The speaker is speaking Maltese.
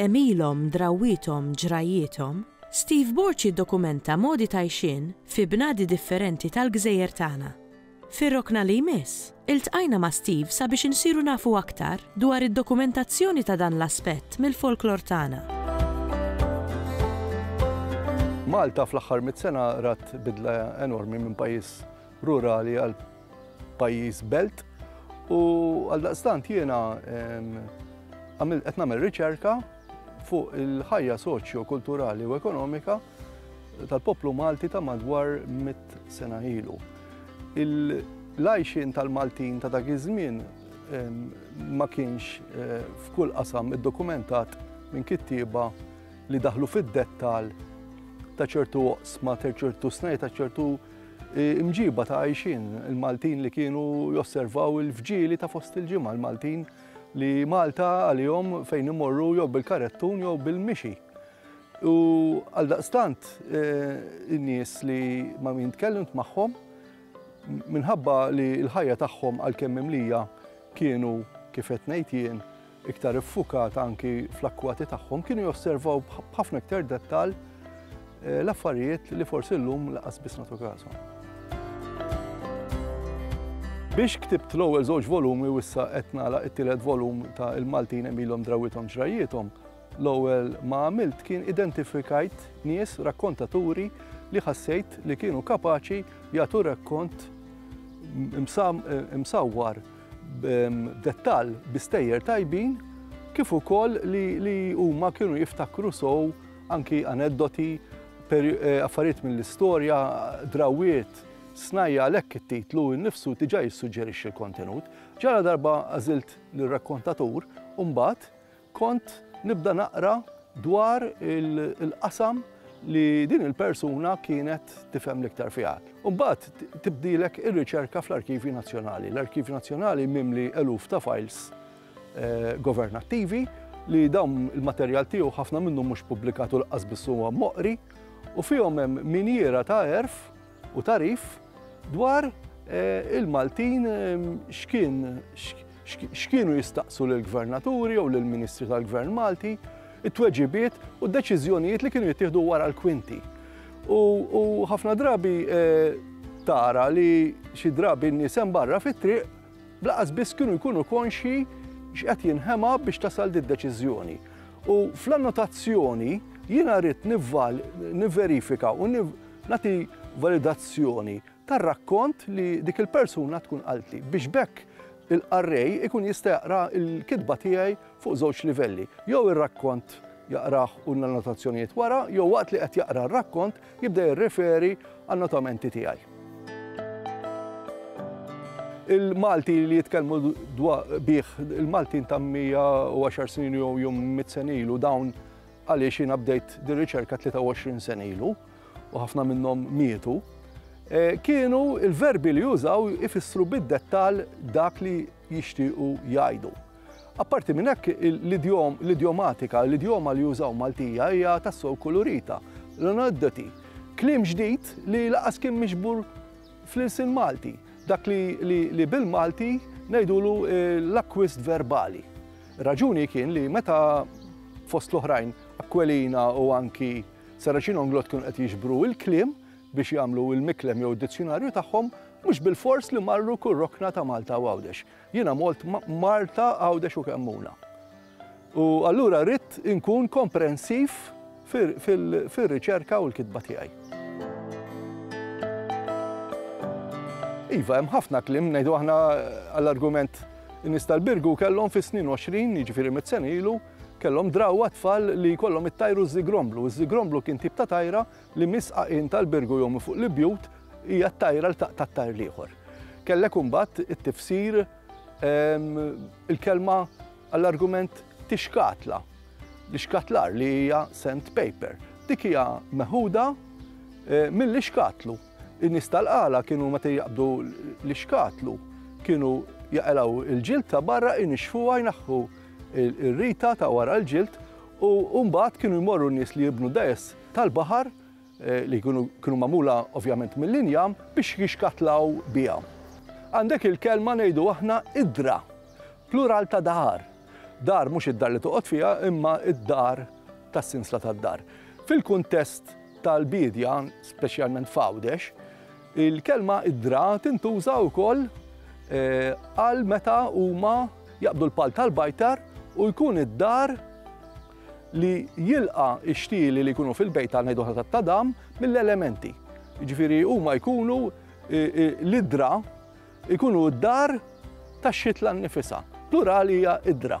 Għemilhom, drawwiethom, ġrajjiethom, Steve Borg jiddokumenta modi ta' għixien fi bnadi differenti tal-gżejjer tagħna. Fir-rokna li jmiss, iltqajna ma' Steve sabiex insiru nafu aktar dwar id-dokumentazzjoni ta' dan l-aspett mill-folklor tagħna. Malta fl-aħħar mitt sena rat bidla enormi minn pajjiż rurali għal pajjiż belt u għal daqstant jiena qed nagħmel riċerka fuq il-ħajja soċjo, kulturali u ekonomika tal-poplu Malti ta' madwar mit sena ilu. Il-lajxin tal-Maltin ta' dak iż-żmien ma kienx eh, f'kull qasam iddokumentat minn kittieba li daħlu fid-dettal ta' ċertu oqsma, ta' ċertu snej, ta' ċertu Imġiba ta' għajxien il-Maltin li kienu josservaw il-fġieli ta' fost il-ġimgħa l-Maltin li Malta għalihom fejn imorru jew bil-karettun jew bil-mixi. U għal daqstant eh, in-nies li ma min tkellimt magħhom minħabba li l-ħajja tagħhom għal kemm imlija kienu kif qed ngħid jien iktar iffukata anki fl-akkwati tagħhom, kienu josservaw b'ħafna iktar dettal eh, l-affarijiet li forsi l-lum laqas biss natu kasu. Biex ktibt l-ewwel żewġ volumi u issa qed nagħlaq it-tielet volum ta' il-Maltin emilhom drawithom ġrajjithom, l-ewwel ma għamilt kien identifikajt nies rakkontaturi li ħassejt li kienu kapaċi jagħtu rakkont msawwar b'dettall bi stejjer tajbin kif ukoll li huma kienu jiftakru sow anki aneddoti, eh, affarijiet mill-istorja, drawiet, snajja għalhekk it-titlu nnifsu diġà jissuġġerixxi l-kontenut. Ġara darba għażilt lir-rakkontatur u mbagħad Kont nibda naqra dwar il-qasam li din il-persuna kienet tifhem l-iktar fiha. Imbagħad tibdilek ir-riċerka fl-Arkivji Nazzjonali. L-Arkivju Nazzjonali mimli eluf ta' fajls eh, governattivi li dawn il-materjal tiegħu ħafna minnu mhux pubblikat u l-qasbis huwa moqri u fihom hemm minjiera ta' erf u tagħrif dwar il-Maltin x'kienu jistaqsu lill-Gvernaturi jew lill-Ministri tal-Gvern Malti, it-tweġibiet u d-deċiżjonijiet li kienu jittieħdu wara l-kwinti. U ħafna drabi eh, tara li xi drabi n-nies hemm barra fit-triq blaqas biss kienu jkunu konxji x'qed jinħema biex tasal di deċiżjoni. U fl-annotazzjoni jiena rrid nivval niverifika u Nagħti validazzjoni tar-rakkont li dik il-persuna tkun qaltli biex b'hekk il-qarrej ikun jista' jaqra l-kitba tiegħi fuq żewġ livelli. Jew ir-rakkont jaqrah u l-annotazzjonijiet wara, jew waqt li qed jaqra r-rakkont jibda jirreferi għan-notamenti tiegħi. Il-Malti li jitkellmu bih il-Maltin ta' 110 snin jew jum mit senilu dawn Għaliex jiena bdejt din riċerka 23 sena ilu u ħafna minnhom mietu, eh, kienu il-verbi li jużaw ifissru bid-dettal dak li jixtiequ jgħidu. Apparti minn hekk l-idjomatika, l-idjoma li jużaw Maltija hija tassew kulurita, l-aneddoti, klim ġdid li laqas kien miġbur fl-ilsin Malti, dak li bil-Malti ngħidulu eh, l-akwist verbali. Ir-raġuni kien li meta fost l-oħrajn Aquilina u anki Saracino Nglott kienu qed jiġbru il-kliem biex jagħmlu il-miklem jew id-dizzjonarju tagħhom, mhux bil-fors li marru kull rokna ta' Malta u Għawdex. Jiena molt Marta, Għawdex u Kemmuna. U allura rrid inkun komprensiv fir-riċerka u l-kitba tiegħi. Iva, hemm ħafna kliem ngħidu aħna għall-argument in-nies tal-Birgu kellhom fis-snin 20, jiġifieri mit sen ilu, kellhom drawwa tfal li jkollhom it-tajru żigromblu. Iż-żigromblu kien tip ta' tajra li misqaqin tal-Birgu jew fuq l-ibjut hija t-tajra l taqta' tajr l-ieħor. Kellek imbagħad it-tifsir Il-kelma għall-argument tixkatla, l-ixkatlar li hija sent paper. Dik hija meħuda eh, mill-ixkatlu. In-nies tal-qala kienu meta jaqbdu l-ixkatlu, kienu jaqelaw il-ġilt ta' barra inixfu għajnaħħu il-rita ta' wara l-ġilt u mbagħad kienu jmorru n-nies li jibnu dajes tal-baħar li kienu magħmula ovvjament mill-injam, biex jixkatlaw biha. Għandek il-kelma ngħidu aħna idra, plural ta' dahar. Dar mhux id-dar li toqgħod fiha imma d-dar tas-sinsla tad-dar. Fil-kuntest tal-biedja, speċjalment f'Għawdex, il-kelma idra tintuża wkoll għal meta huma jaqbdu l-pal tal-bajtar u jkun id-dar li jilqa' x-xtieli li jkunu fil-bejt ta' ngħidu aħna tat-tadam mill-elementi. Jiġifieri huma jkunu l-idra jkunu d-dar tax-xitla nnifisha. Plural hija idra.